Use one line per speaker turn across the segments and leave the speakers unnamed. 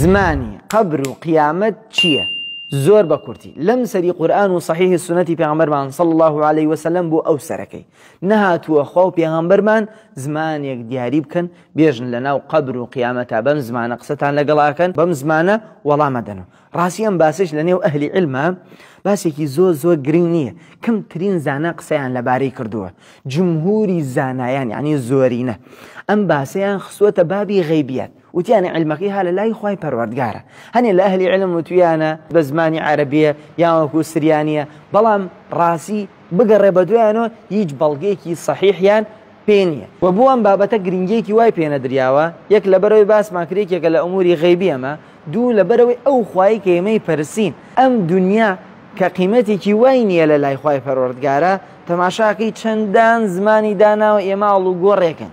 زمانی قەبر و قیامەت چییە؟ زۆر بە کورتی لەم سەری قورآن و صحیح سنەتی پێغمبەرمان صلی الله عليه وسلم بۆ ئەو سەرەکەی نەهاتووە خوا و پێغمبەرمان زمانێک دیاری بکەن بێژن لە ناو قەبر و قیامەتا بەم زمانە قسەتان لەگەڵاکەن بەم زمانە وەڵامەدەن و ڕاستی ئەم باسش لە نێو ئەهلی علمە باسێکی زۆر زۆر گرنگ نییە کەمترین زانا قسەیان لەبارەی کردووە جمهوری زانایان یعنی زۆرینە ئەم باسەیان خسوەتە بابی غیبیات وتیانە عیلمەکەی ها لە لای خوای پەروەردگارە هەنێ لە ئەهلی عیلم وتویانە بە زمانی عەرەبیە یان وەکو سریانیە بەڵام ڕاسی بگەڕێ بە دویانەوە هیچ بەڵگەیەکی سەحیحیان پێ نییە و بۆ ئەم بابەتە گرنگیەکی وای پێ نەدریاوە یەک لەبەرەوەی باسمان کرد یەکێکە لە ئەموری غەیبی ئەمە دوو لەبەرەوەی ئەو خوایی کە ئێمەی پەرسین ئەم دنیا کە قیمەتێکی وای نییە لە لای خوای پەروەردگارە تەماشاکەی چەندان زمانی داناوە ئێمە ئاڵوگۆڕێکن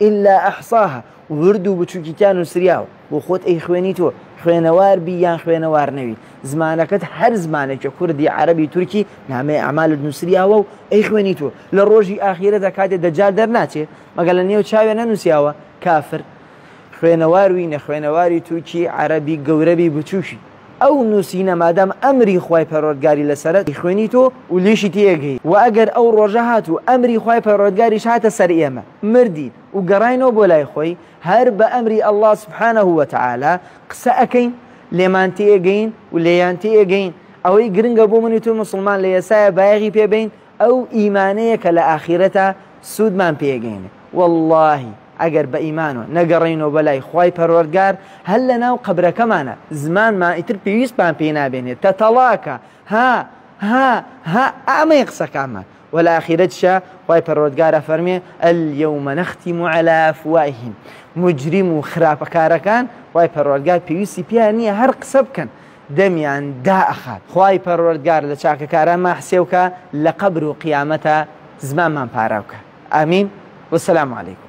الا احصاها ورد و بچوکی تیا نوسریاوە بۆ خۆت ئەی خوێنی تۆ خوێنەوار بی یان خوێنەوار نەوی زمانەکەت هەر زمانێکە کوردی عەرەبی تورکی نامەی ئەعمالت نوسریاوە و ئەی خوێنی تۆ لە ڕۆژی ئاخیرەدا کاتێ دەجال دەرناچێ مەگە لە نێو چاوێ نەنوسیاوە کافر خوێنەوار وی نەخوێنەواری تورکی عەرەبی گەورەبی بچوکی ئەو نووسینە مادام ئەمری خوای پەروەردگاری لەسەرە دەیخوێنیت و و لێشی تێئەگەیت، وە ئەگەر ئەو ڕۆژە هات و ئەمری خوای پەروەردگاریش هاتە سەر ئێمە مردین و گەڕاینەوە بۆ لای خۆی هەر بە ئەمری اللە سبحانە وتعالی قسە ئەکەین لێمان تێئەگەین و لێیان تێئەگەین ئەوەی گرنگە بۆ من و تۆی موسڵمان لە ئێستایە بایەغی پێ بەین ئەو ئیمانەیە کە لە ئاخیرەتا سوودمان پێگەینێ وەڵڵاهی ئەگەر بە ئیمانەوە نەگەڕێینەوە بەلای خوای پەروەردگار هەر لە ناو قەبرەکەمانا زمانمان ئیتر پێویستمان پێی نابێنێ تەتەڵاکە ها ها ها ئەمەیە قسەکانمان وە لە ئاخیرەتشا خوای پەروەردگار ئەفەرمێ الیوم نختم علی افواههم مجرم و خراپەکارەکان خوای پەروەردگار پێویستی پێیان نییە هەر قسە بکەن دەمیان دا ئەخات خوای پەروەردگار لە چاکەکاران مان حسێو کا لە قەبر و قیامەتا زمانمان پاراو کا امین وسلام علیکم.